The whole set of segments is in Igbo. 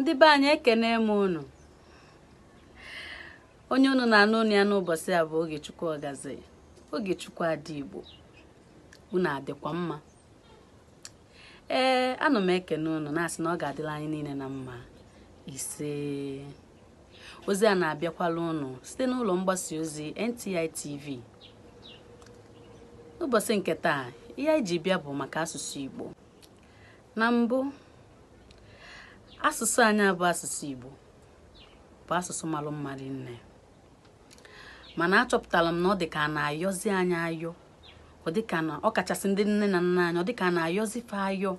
ndị be anyị ekenee m unu onye unu na-anụ onu ya n'ụbọsị a bụ Ogechukwu Ogazi Ogechukwu Ada Igbo unu adịkwa mma ee ana m ekene unu na-asị na ọ ga-adịla anyị niile na mma ise ozi a na-abịakwala unu site n'ụlọ mgbasa ozi NTI TV n'ụbọsị nke taa ihe anyị ji bịa bụ maka asụsụ Igbo na mbụ asụsụ anyị a bụ asụsụ Igbo bụ asụsụ malụ mma rinne mana achọpụtara m na ọ dị ka a na-ayọzi anyị ayọ ọ dị ka na ọ kachasị ndị nne na nna anyị ọ dị ka a na-ayọzi fa ayọ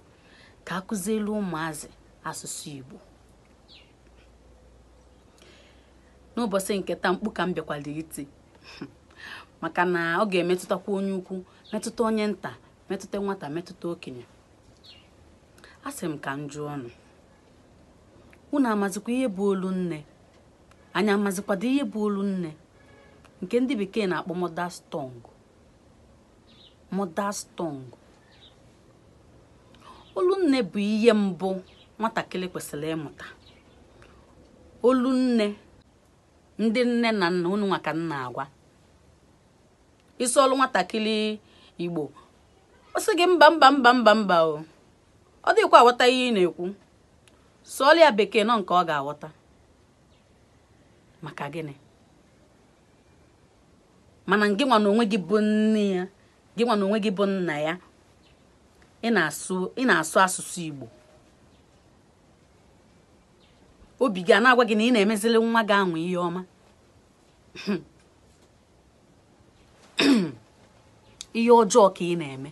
ka a kụzielụ ụmụazị asụsụ Igbo n'ụbọsị nke taa mkpu ka m bịakwalụ iti maka na ọ ga-emetụtakwa onye ukwu metụta onye nta metụta nwata metụta okenye asị m ka m jụọnụ unu amazikwa ihe bụ olu nne anyị amazikwado ihe bụ olu nne nke ndị bekee na-akpọ mother's tongue mother's tongue olu nne bụ ihe mbụ nwatakịrị kwesịrị ịmụta olu nne ndị nne na nna unu nwa ka m na-agwa ị sụọlụ nwatakịrị igbo ọ sị gị mba mba mba mba mba o ọ dakwa aghọta ihe ị na-ekwu sụọlụ ya bekee na ọ nke ọ ga-aghọta maka gịnị mana gị nwa na onwe gị bụ nne ya gị nwa na onwe gị bụ nna ya ị na-asụ asụsụ igbo obi gị ana-agwa gị na ị na-emezili nwa gị anwa ihe ọma ihe ọjọọ ka ị na-eme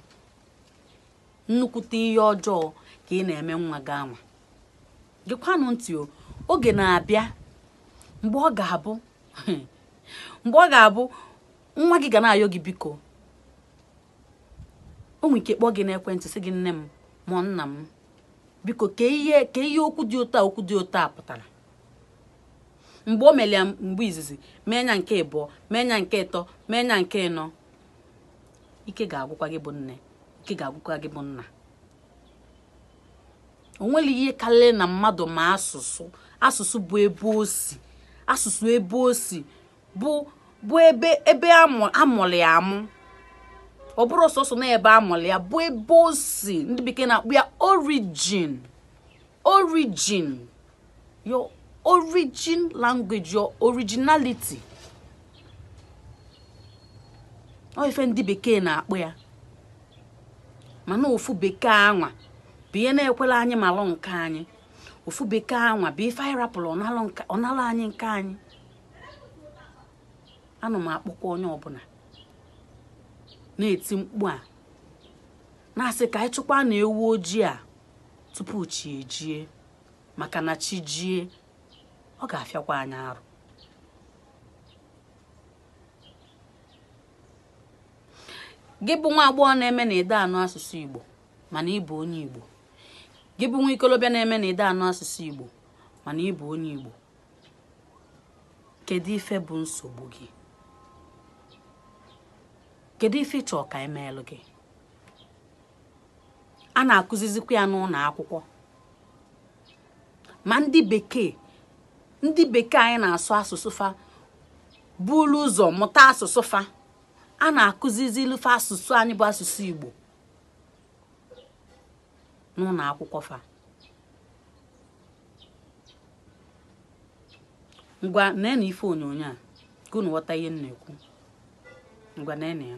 nnukwute ihe ọjọọ ka ị na-eme nwa gị anwa gekwanụ ntị o oge na-abịa mgbe ọ ga-abụ mgbe ọ ga-abụ nwa gị ga na-ayọ gị biko o nwere ike kpọọ gị n'ekwentị sị gị nne m ma nna m biko kee ihe kee ihe okwu dị otu a okwu dị otu a pụtara mgbe o melu ya mgbe izizi mee nya nke ịbụọ mee nya nke ịtọ mee nya nke ịnọ ike ga-agwụkwa gị bụ nne ike ga-agwụkwa gị bụ nna o nwere ihe karịrị na mmadụ ma asụsụ asụsụ bụ ebe o si asụsụ ebe o si bụ bụ ebe ebe a mụrụ ya amụ ọ bụrọ sọsọ na ebe a mụrụ ya bụ ebe o si ndị bekee na-akpọ ya origin origin your origin language your originality ọ ife ndị bekee na-akpọ ya mana ofu bekee anwa bụ ihe na-ekwerọ anyị malụ nke anyị ofu bekee anwa bụ ife anyị rapụrụ ọ nalụ anyị nke anyị ana m akpọku onye ọbụla na-eti mkpu a na-asị ka anyị chụkwa na ewu ojii a tupu chi ejie maka na chi jie ọ ga-afịakwa anyị arụ gị bụ nwa agbọghọ na-eme na ị dị anụ asụsụ igbo mana ị bụ onye igbo gị bụ nwa ikolobịa na-eme na ị dị anụ asụsụ igbo mana ị bụ onye igbo kedu ife bụ nsogbu gị kedu ife ị chọ ka e meelụ gị a na-akụzizikwa ya n'ụlọ akwụkwọ ma ndị bekee ndị bekee anyị na-asụ asụsụ fa bulu ụzọ mụta asụsụ fa a na-akụzizilụ fa asụsụ anyị bụ asụsụ Igbo n'ụlọ akwụkwọ fa ngwa nene ife onyonyo a ka unu ghọta ihe m na-ekwu ngwa nee ya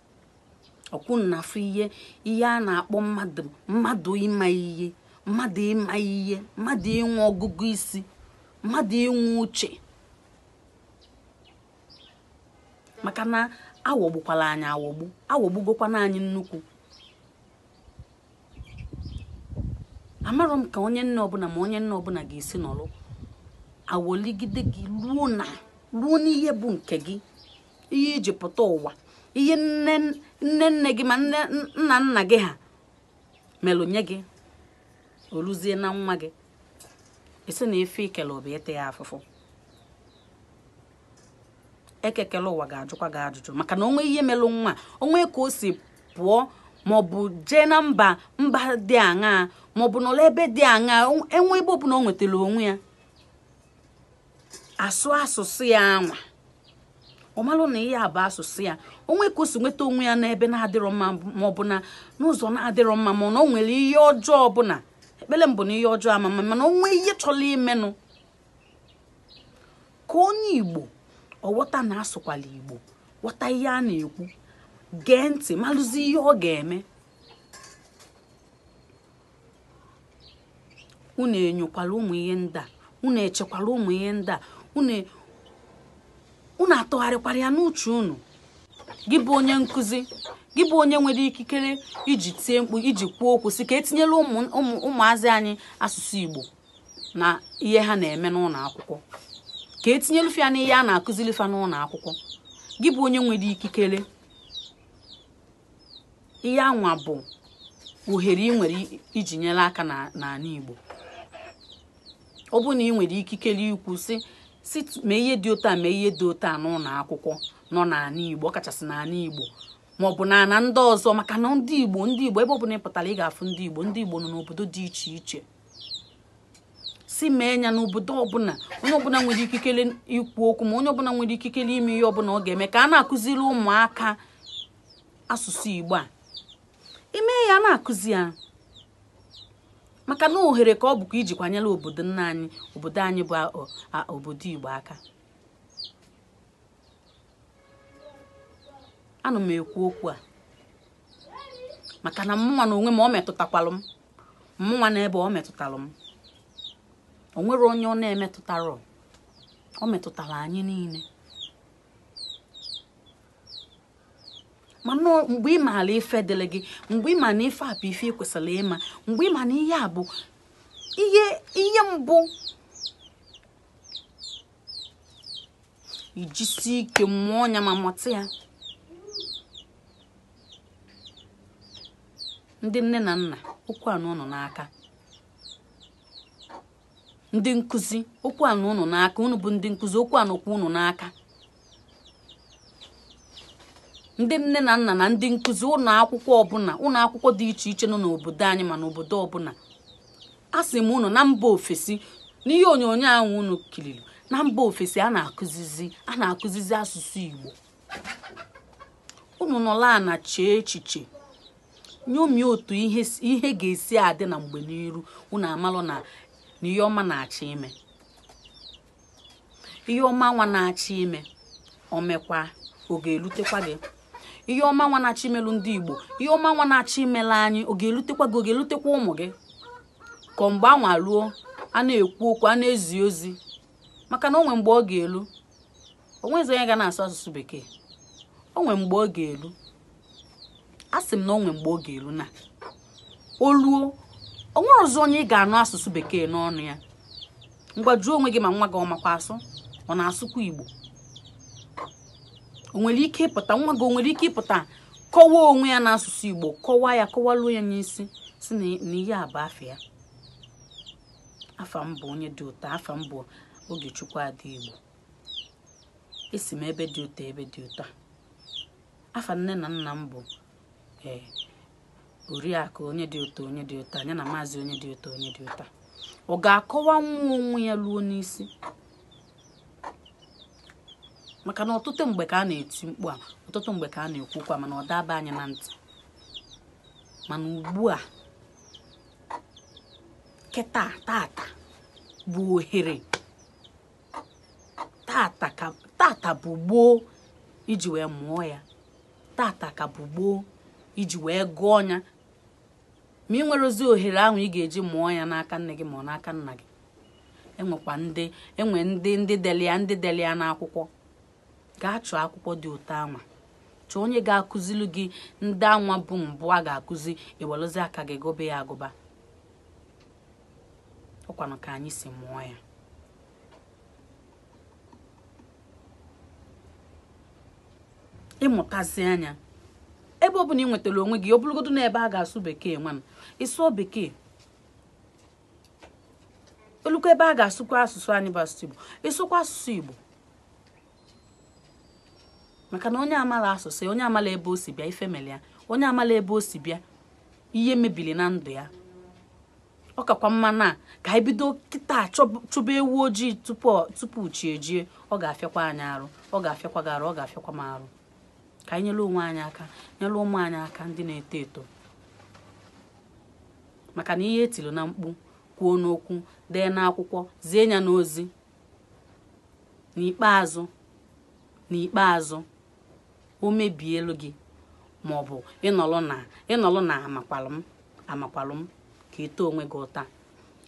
ọkwa unu afụ ihe ihe a na-akpọ mmadụ mmadụ ịma ihe mmadụ ịma ihe mmadụ inwe ọgụgụ isi mmadụ inwe uche maka na aghọgbukwala anyị aghọgbu aghọgbugokwana anyị nnukwu amarọ m ka onye nne ọbụla ma onye nna ọbụla ga-esi nọrọ awọligide gị ruo n'ihe bụ nke gị ihe i ji pụta ụwa ihe nne nne gị ma nna nna gị ha melụ nye gị o luzie na nwa gị ị sị na ife ikele bụ ịta ya afụfụ eke kele ụwa ga-ajụkwa gị ajụjụ maka na o nwee ihe melụ nwa o nwee ka o si pụọ maọbụ jee na mba mba dị aṅaa maọbụ n'ụlọ ebe dị aṅaa e nwee ebe ọbụla o nwetara onwe ya a sụọ asụsụ ya anwa ọ malụ na ihe a bụ asụsụ ya o nwee ka o si nweta onwe ya n'ebe na-adịrọ mma ma ọ bụ na n'ụzọ na-adịrọ mma mana o nwere ihe ọjọọ ọbụla ekpere m bụ na ihe ọjọọ ama mme mana o nwee ihe chọrọ imenụ ka onye igbo ọ ghọta na asụkwala igbo ghọta ihe a na-ekwu gee ntị malụzi ihe ọ ga-eme unu enyokwala ụmụ ihe ndị a unu echekwala ụmụ ihe ndị a unu atụgharịkwara ya n'uche unu gị bụ onye nkụzi gị bụ onye nwere ikikere iji tie mkpu iji kwuo okwu sị ka e tinyela ụmụazị anyị asụsụ Igbo n'ihe ha na-eme n'ụlọ akwụkwọ ka e tinyelu fa ya n'ihe a na-akụziri fa n'ụlọ akwụkwọ gị bụ onye nwere ikikere ihe anwa bụ ohere ị nwere iji nyere aka n'ana Igbo ọ bụrụ na ị nwere ikikere ikwu sị sị mee ihe dị otu a mee ihe dị otu a n'ụlọ akwụkwọ nọ n'ana Igbo ọkachasị n'ana Igbo ma ọ bụ n'ana ndị ọzọ maka na ndị Igbo ndị Igbo ebe ọ bụla ị pụtara ị ga-afụ ndị Igbo ndị Igbo nọ n'obodo dị iche iche sị mee ya n'obodo ọbụla onye ọbụla nwere ikikere ikwu okwu ma onye ọbụla nwere ikikere ime ihe ọbụla ọ ga-eme ka a na-akụziri ụmụaka asụsụ igbo a ime ya a na-akụzi ya maka na ohere ka ọ bụkwa ijikwa nyere obodo nna anyị obodo anyị bụ obodo igbo aka ana m ekwu okwu a maka na mụnwa n'onwe m ọ metụtakwalụ m mụnwa n'ebe ọ metụtara m o nwerọ onye ọ na-emetụtarọ ọ metụtara anyị niile mana mgbe ị maara ife dịrị gị mgbe ị ma na ife a bụ ife ị kwesịrị ịma mgbe ị ma na ihe a bụ ihe ihe mbụ i jisie ike mụọ ya ma mụta ya ndị nne na nna okwu a nọ unu n'aka ndị nkụzi okwu a nọ unu n'aka unu bụ ndị nkụzi okwu a nọkwa unu n'aka ndị nne na nna na ndị nkụzi ụlọ akwụkwọ ọbụla ụlọ akwụkwọ dị iche iche nọ n'obodo anyị ma n'obodo ọbụla asị m unu na mba ofesi n'ihe onyonyo ahụ unu kiriri na mba ofesi a na-akụzizi a na-akụzizi asụsụ Igbo unu nọla ana chee echiche nyomie otu ihe ga-esi adị na mgbe n'iru unu amalụ na ihe ọma na-achọ ime ihe ọma nwa na-achọ ime o mekwaa ọ ga-elutekwa gị ihe ọma nwa na-achọ imelụ ndị igbo ihe ọma nwa na-achọ imelụ anyị ọ ga-elutekwa gị ọ ga-elutekwa ụmụ gị ka mgbe anwa ruo a na-ekwu okwu a na-ezi ozi maka na o nwe mgbe ọ ga-elu onwezi onye ga na-asụ asụsụ bekee onwe mgbe ọ ga-elu a sị m na onwe mgbe ọ ga-elu na oluo onwerọzi onye ị ga-anụ asụsụ bekee n'ọnụ ya ngwa jụọ onwe gị ma nwa gị ọ makwa asụ ọ na-asụkwa igbo onwere ike ịpụta nwa gị onwere ike ịpụta kọwaa onwe ya n'asụsụ igbo kọwaa ya kọwaluo ya n'isi sị na ihe a bụ afa ya afa m bụ onye dị otu a afa m bụ Ogechukwu Ada Igbo esi m ebe dị otu a ebe dị otu a afa nne na nna m bụ ee oriakụ onye dị otu a onye dị otu anwa na maazị onye dị otu a onye dị otu a ọ ga-akọwanwu onwe ya luo n'isi maka na ọtụtụ mgbe ka a na-eti mkpu a ọtụtụ mgbe ka a na-ekwu okwu a mana ọ da aba anyị na ntị mana ugbu a kịta tata bụ ohere tata bụ gboo iji wee mụọ ya tata ka bụ gboo iji wee gụọ ya ma ị nwerọzi ohere ahụ ị ga-eji mụọ ya n'aka nne gị ma ọ n'aka nna gị enwekwa ndị enwe ndị ndị deli ya ndị deli ya n'akwụkwọ gaa chọọ akwụkwọ dị otu anwa chọọ onye ga-akụzili gị ndị anwa bụ mbụ a ga-akụzi iweluzi aka gị gụba ya agụba ọkwanụ ka anyị si mụọ ya ịmụtazịa ya ebe ọ bụla ị nwetara onwe gị ọ bụrụgodu na ebe a ga-asụ bekee ngwanụ ịsụọ bekee olukwa ebe a ga-asụkwa asụsụ anyị bụ asụsụ igbo ịsụkwa asụsụ igbo maka na onye amala asụsụ onye amala ebe o si bịa ife meli ya onye amala ebe o si bịa ihe mebili na ndụ ya ọ kakwa mma na ka anyị bido kịta chụba ewu ojii tupu chi ejie ọ ga-afịakwa anyị arụ ọ ga-afịakwa gị arụ ọ ga-afịakwa m arụ ka anyị nyere onwe anyị aka nyere ụmụ anyị aka ndị na-eto eto maka na ihe etilu na mkpu kwuo n'okwu dee n'akwụkwọ zie ya n'ozi n'ikpeazụ n'ikpeazụ o mebielu gị ma ọ bụ ịnọlụ na ịnọlụ na amakwalụ m amakwalụ m ka ị taa onwe gị ụta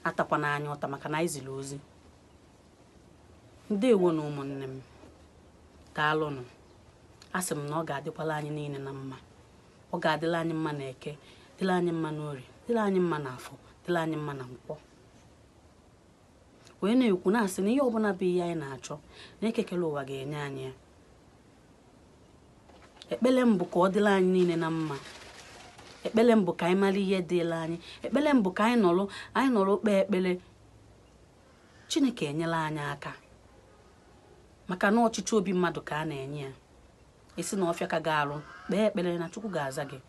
atakwana anyị ụta maka na anyị ziri ozi ndewonụ ụmụnne m daalụnụ a sị m na ọ ga-adịkwala anyị niile na mma ọ ga-adịla anyị mma na eke dịla anyị mma n'orie dịla anyị mma na afọ dịla anyị mma na nkwọ wee na-ekwu na-asị na ihe ọbụla bụ ihe anyị na-achọ na eke kele ụwa ga-enye anyị ya ekpele m bụ ka ọ dịla anyị niile na mma ekpele m bụ ka anyị mara ihe dịla anyị ekpele m bụ ka anyị nọrọ anyị nọrọ kpee ekpele chineke enyela anyị aka maka na ọchịchọ obi mmadụ ka a na-enye ya esi na ọfịa ka ga-arụ kpee ekpele na chukwu ga-aza gị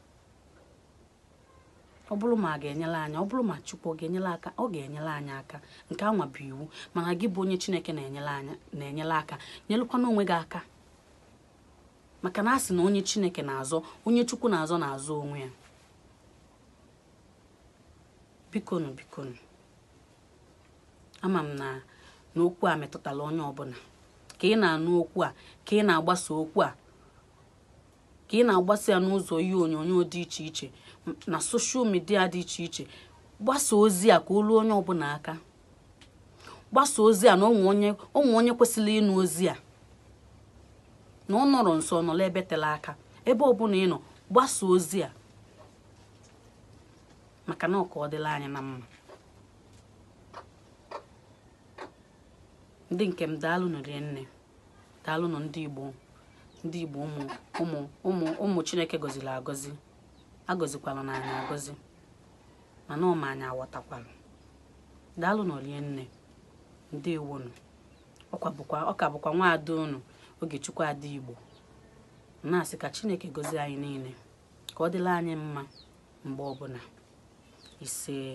ọ bụrụ ma a ga-enyela anyị ọ bụrụ ma chukwu ọ ga-enyela aka ọ ga-enyela anyị aka nke anwa bụ iwu mana gị bụ onye chineke na-enyela aka nyelụkwana onwe gị aka maka na a sị na onye chineke na-azọ onye chukwu na-azọ na-azọ onwe ya bikonu bikonu ama m na na okwu a metụtara onye ọbụla ka ị na-anụ okwu a ka ị na-agbasa okwu a ka ị na-agbasa ya n'ụzọ ihe onyonyo dị iche iche na soshal midia dị iche iche gbasa ozi a ka o ruo onye ọbụla aka gbasa ozi a na o nwee onye kwesịrị ịnụ ozi a na ọ nọrọ nso ọ nọrọ ebe tela aka ebe ọbụla ị nọ gbasa ozi a maka na ọ ka ọ dịla anyị na mma ndị nke m daalụnụ rinne daalụnụ ndị igbo ndị igbo ụmụ chineke gọziri agọzi agọzikwalanụ anyị agọzi mana ọ ma anyị aghọtakwala daalụnụ rinne ndewonu ọ ka bụkwa nwa ada unu ogechukwu ada igbo na-asị ka chineke gọzie anyị niile ka ọ dịla anyị mma mgbe ọbụla isee